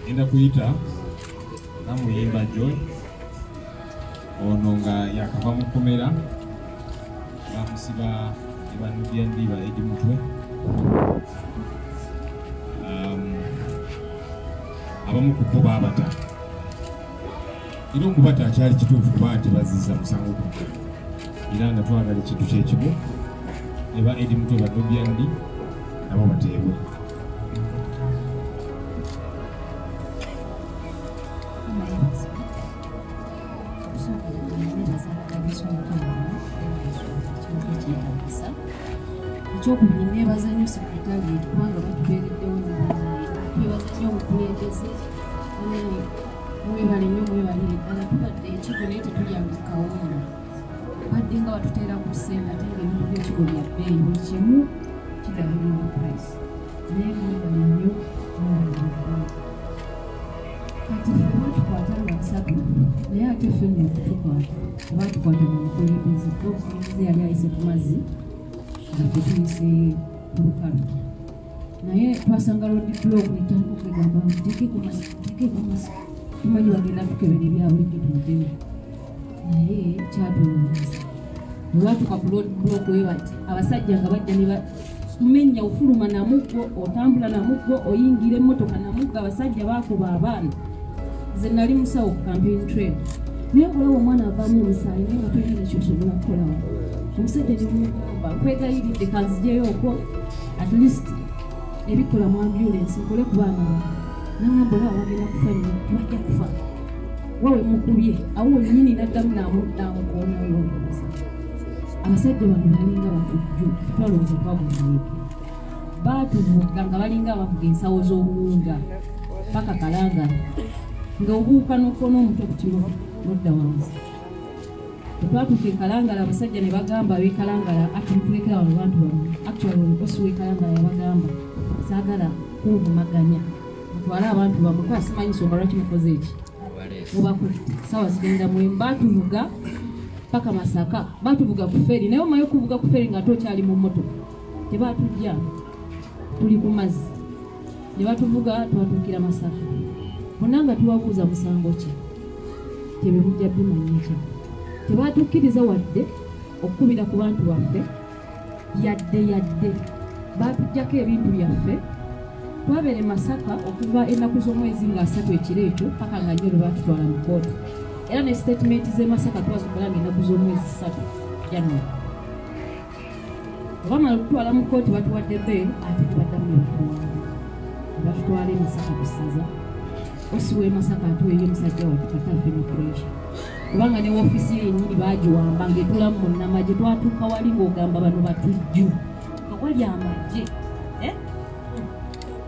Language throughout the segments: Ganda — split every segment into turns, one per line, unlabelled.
enda kuyita namuyimba joy ono nga yakava mu kkomera bamusiba ebanubya ndiba edi mutwe um, abamu ku bo baabata era okubata akyali kituufu kuba nti baziza musango ku era nga twagala ekintu kyekimu ne ba edi mutwe badobyandi nabo bateebwe
ekyokubiri nebaza nyo sekretariat kubanga batubeereddewo nebaza nyo omukulembeze mwebale nyo mwebalire ddala tubadde ekigo naye tetulyanga kawunga badde nga batuteera ku sente ate nga ebintu byekigo bya bbeeyi buli kimu kigabirwa price naye mwebale nyo kati fe batukwata nga nsatu naye ate fe nyo okutukwata oba tukwata mu mukulembeze kuba omukulembeze yali ayise ku mazzi nga tetuyise ku lukalu naye twasanga lodi blog netandika okwegamba tekeko masiki tekeko masiki tumanyi bagenda tukebera ebyabulijjo tumujewo naye kyatulowooza olwatuka ku lodi blog we bati abasajja nga bajja ne menya ofuluma namuggo otambula namuggo oyingira emmotoka namuggo abasajja bakuba abaana nze nali musawo ku campaign trade naye kulaba omwana avamu omusaayi naye nga tolina nekyosobola kukolawo omusajja nemugamba nkwegayiridde kanzijeyo okwo at least ebikola mu ambulance nkole ku baana bange nangamba olaba bagenda kufa nyo tibajja kufa wawe mukubye awo wenyini naddamu namukoona olwobuuza abasajja bano balinga batujju tutwala obuva buzee baatuvuga nga balinga abavuga ensawo z'obuwunga paka kalangala nga obuuka n'okuona omuto kutiro nodda wansi Twatuuka e Kalangala abasajja ne bagamba ab'e Kalangala ati mutulekera wano abantu bano actually omukosi w'e Kalangala yabagamba saagala kunvumaganya mutwale abantu bamwe kuba simanyi nsonga lwaki mukoze eki mubakutte saawa zigenda mwemu baatuvuga paka Masaka baatuvuga ku feri naye omaye okuvuga ku feri ng'ate okyali mu mmotoka tebaatujja tuli ku mazzi ne batuvuga twatuukira masaka bonna nga tubabuuza musango ki tebemujja bimanyikya tebatukkiriza wadde okukubira ku bantu baffe yadde yadde batujjako ebintu byaffe twabere masaka okuva ennaku z'omwezi nga asatu ekiro ekyo paka nga nyo lwebatutwala mu kooti era ne sitatimenti z'emasaka twazikola nga ennaku z'omwezi satu january bamala okutwala mu kkooti batuwadde beel ate tebaddamu nebakuwanga batutwala emasaka ku ssaza osi w'emasaka atuweeyo omusajja watu kataafe mu puresha kubanga ne wofiisi ye yennyini baagiwamba ng'etulamu mu nama gye twatuuka wali ng'ogamba bano batujju nga wali amagye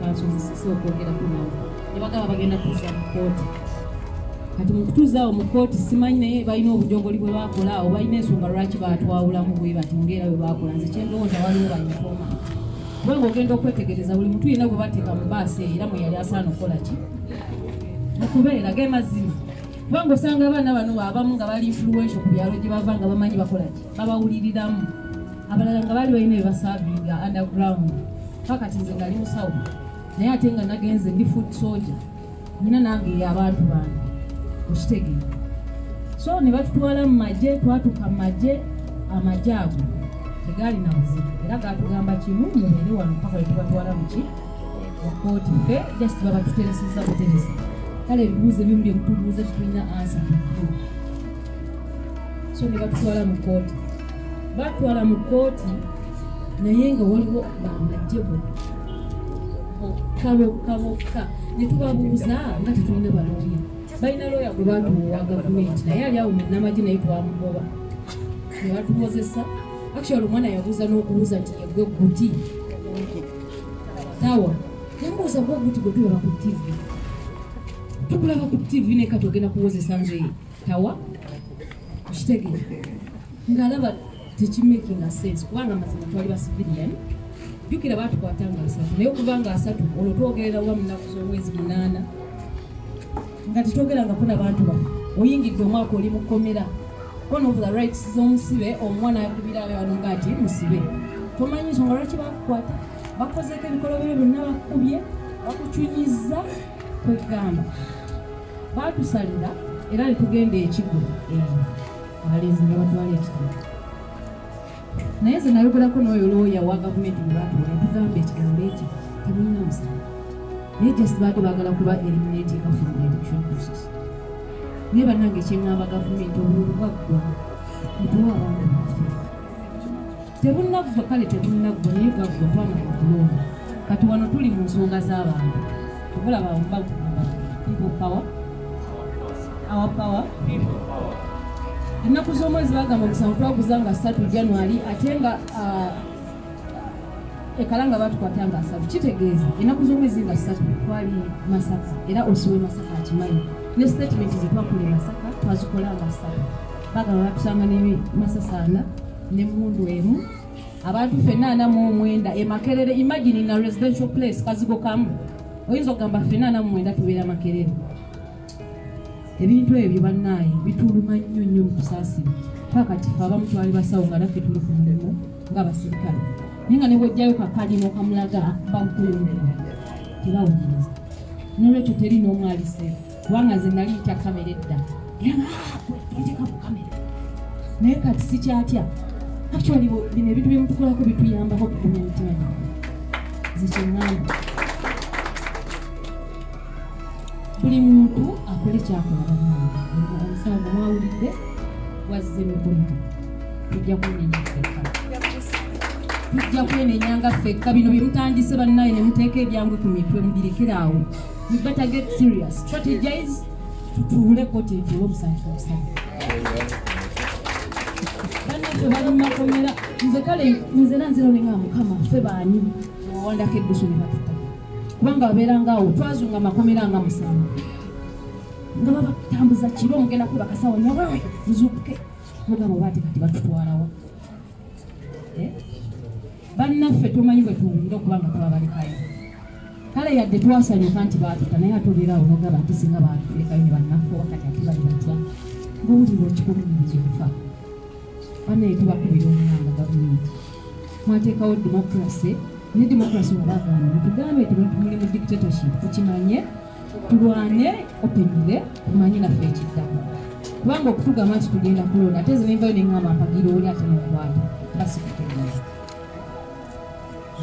bakyozesesa okwogera kunawe nebagaba bagenda kuza mu kooti kati mukutuzaawo mu kooti simanyi naye balina obujogoli bwe bakola awo balina ensonga lwaki batwawulamu bwe bati ngaera bwe bakola nze kyendowooza waliwo banyifoma kubanga ogenda okwetegereza buli mutu yena gwe bateeka mu baasi era mwe yali asaana okukola ki mukubeera ge mazima kubanga osanga abaana bano abamu nga bali influential ku byalo gye bava nga bamanyi bakola ki babawuliriramu abalala nga baali balina ebasaavinga underground pakati nze ngali musawo naye ate nga nagenze ndi food soja nina nange abantu bange okitegeera so ne batutwala mu magye twatuka mu magye amagye ago tegaali na buzibu era gatugamba kimu mubeere wano paka wetubatwala muki wakooti fe just babatutereseza buteresa kale ebibuuzo ebimu byemutubuuza tetulina ansa so ne batutwala mu kooti batwala mu kkooti naye nga waliwo bamajje bokka bokka bokka ne tubabuuza nga tetulina balooya balina looya gwe bantu wa gavumenti naye ali awo munamagye naye twamugoba ne batukozesa actual omwana yabuuza n'okubuuza nti yegwe guti tawa yamubuuza gwe guti gwe tulaba ku tivi tukulaba ku tivi naye katogenda kuwozesa nzeye tawa okitegere ng'alaba tekimaking sense kubanga amazima twali basivilian jukira batukwata nga asatu naye okuba nga asatu olwo twogerera wa munaku z'omwezi munaana nga tetwogerangako na bantu ba oyingidde omwaka oli mukomera one of the rights z'omusibe omwana yagibira abantu nga ati musibe tomanyi nsonga lwaki bakukwata bakozeeko ebikolobero byonna bakubye bakucunyiza kwegamba baatusalira era ne tugenda ekigo eyo abalenzi ne batwala ekigo naye nze nayogerako n'oyo looya wa gavumenti bwe baatuwa yatugamba ekigambo ekyo temulina musango naye just baadde baagala kuba eliminatinga from the election process naye bannange kyeŋŋamba gavumenti obululu bwaggwa mutuwa abantu tebunaggwa kale tebunaggwa naye gaggwa twana mukulonda kati wano tuli mu nsonga z'abantu okulaba bagamba people power our power ennaku z'omwezi bagamba omusango twaguza nga satu january ate nga uh, ekalanga batukwata nga asatu kitegeeza ennaku z'omwezi nga satu twali masaka era osiwe masaka akimanyi ne sitatimenti zetwakola e masaka twazikola nga satu bagamba batusanga ne masasaana ne mundu emu abantu fena ana mu omwenda e makerere imagine na residential place kazigo kamu oyinza okugamba fena ana mu omwenda tubeera makerere ebintu ebyo bannaaye bituluma nnyo nnyo mukusaasira pakati fe abamu twali basawo nga naffe tuli ku mulimu nga basirikale naye nga nebwojjayo kakalimo kamulaga bamukulumira tebawuliriza nolwekyo teri n'omwaliseeko kubanga nze nali yita kamera edda yateka ku kamera naye kati sikyatya actually bino ebintu byemutukolako bituyambako okugumya emitima gye zekyengamba buli muntu akole kyakola banaomusango mwawulidde wazze mikulika tujja kunenya ffekka tujja kwenenya nga ffekka bino byemutandise bannaye nemuteeka ebyangwe ku mitwe mubirekeraawo You better get serious. Strategize. Tutuule koti etuule omusanyi omusanyi. Bana fe bali makomera. Nze kale nze na nzero ninga mukama fe bani. Wanda ke dusu ni batu. Kubanga wabera nga u. Twazu nga makomera nga musama. Nga baba tambuza chiro mgena kuba kasawa nyawewe. Mzuke. Mga mwati kati batu tuwarawa. bannaffe tumanyi bwe tuwulira okuba nga tubabalekayo kale yadde twasanyuka nti baatuta naye ate obeerawo nogaba nti singa baatulekayo ne bannaffe wakati ate bali batya ngowulira okikulumiriza okufa banaye tubakubira omulanga gavumenti mwateekawo demokrase ne demokrase wabagamba tugambe ti muli mu dictatorship tukimanye tulwane opinire tumanye naffe ekiddamu kubanga okutugamba nti tugenda kulonda ate nze nenvayo neŋamba mpagira oli ate nomukwata basikutegeeza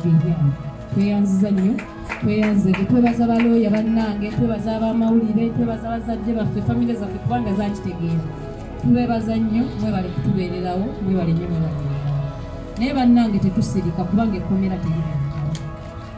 bibyamu tweyanziza nnyo tweyanze twebaza balooya bannange twebaza abamawulire twebaza bazadde baffe famire zaffe kubanga zakitegeera tubebaza nnyo mwebale kutubeererawo mwebale nnyo mwebale naye bannange tetusirika kubanga ekkomera teribaa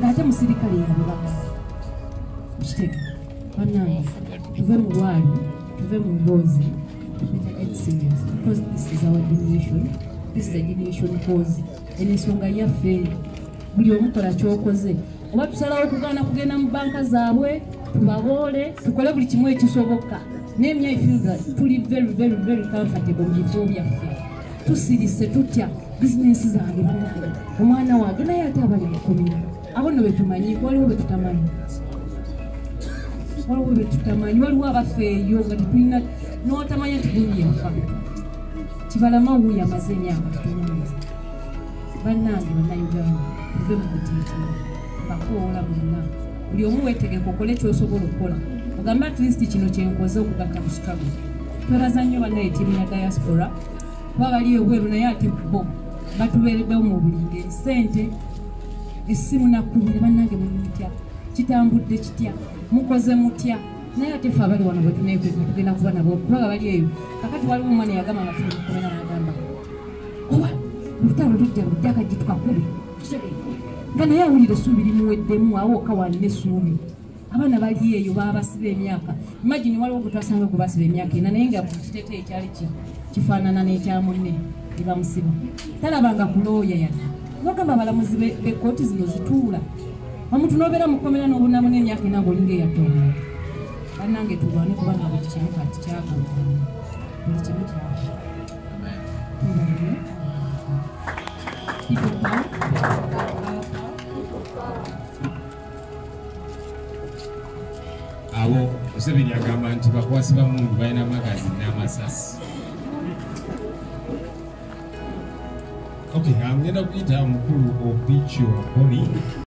ng'ate musirikale yabibaka kitega banange tuve mu bwali tuve mu mboozi because this is our generation this is a generation cause eno ensonga yaffe buli omukola kyokoze oba tusalawo okugaana kugenda mu banka zaabwe tubaboole tukole buli kimu ekisoboka naye myefilga tuli very very very comfortable mu bifo byaffe tusirise tutya bizinensi zange banange omwana wange naye ate abali mukomera abo no betumanyi waliwo betutamanyi waliwo betutamanyi waliwo abafeeyo nga tetulina notamanya tigunyinfa kibalama wuyo amaze emyaka tutunyumiza bannange bannayuganda tuve mu kutiitira bakoola bonna buli omu wetegeka okole kyosobola okukola ogambe atleast kino kyenkoze okugaka mu chicago twebaza nnyo bannaye tiimu ya diaspora kuba bali ebweru naye ate bo batubeereddewo mu buli ngeri sente essimu nakkubire bannange mumutya kitambudde kitya mukoze mutya naye ate fe abali wano bwetunekweka tugenda kuba nabo kubanga bali eyo kakati waliwo omwana yagamba nga tunakubeera nagamba oba lutalo lujja lujja kajitukakubi nga naye awulira essuubi limuweddemu awo okawanina essuubi abaana bali eyo babasiba emyaka imagine waliwo gwetwasanga gwe basiba emyaka ena naye nga kitete ekyali kifaanana n'ekyamunne ebamusiba talabanga kulooya yadde bagamba abalamuzi bekooti zino zituula omuntu nobeera mukomera nobunamu n'emyaka ena ngaolinga eyatona banange tulwane kubanga buli kimu kati kyagona buli kimu kyagona People power.
abo museveni agamba nti bakwasi bamundu balina magazi n'amasasi okay ngenda kuyita mukulu obicio boni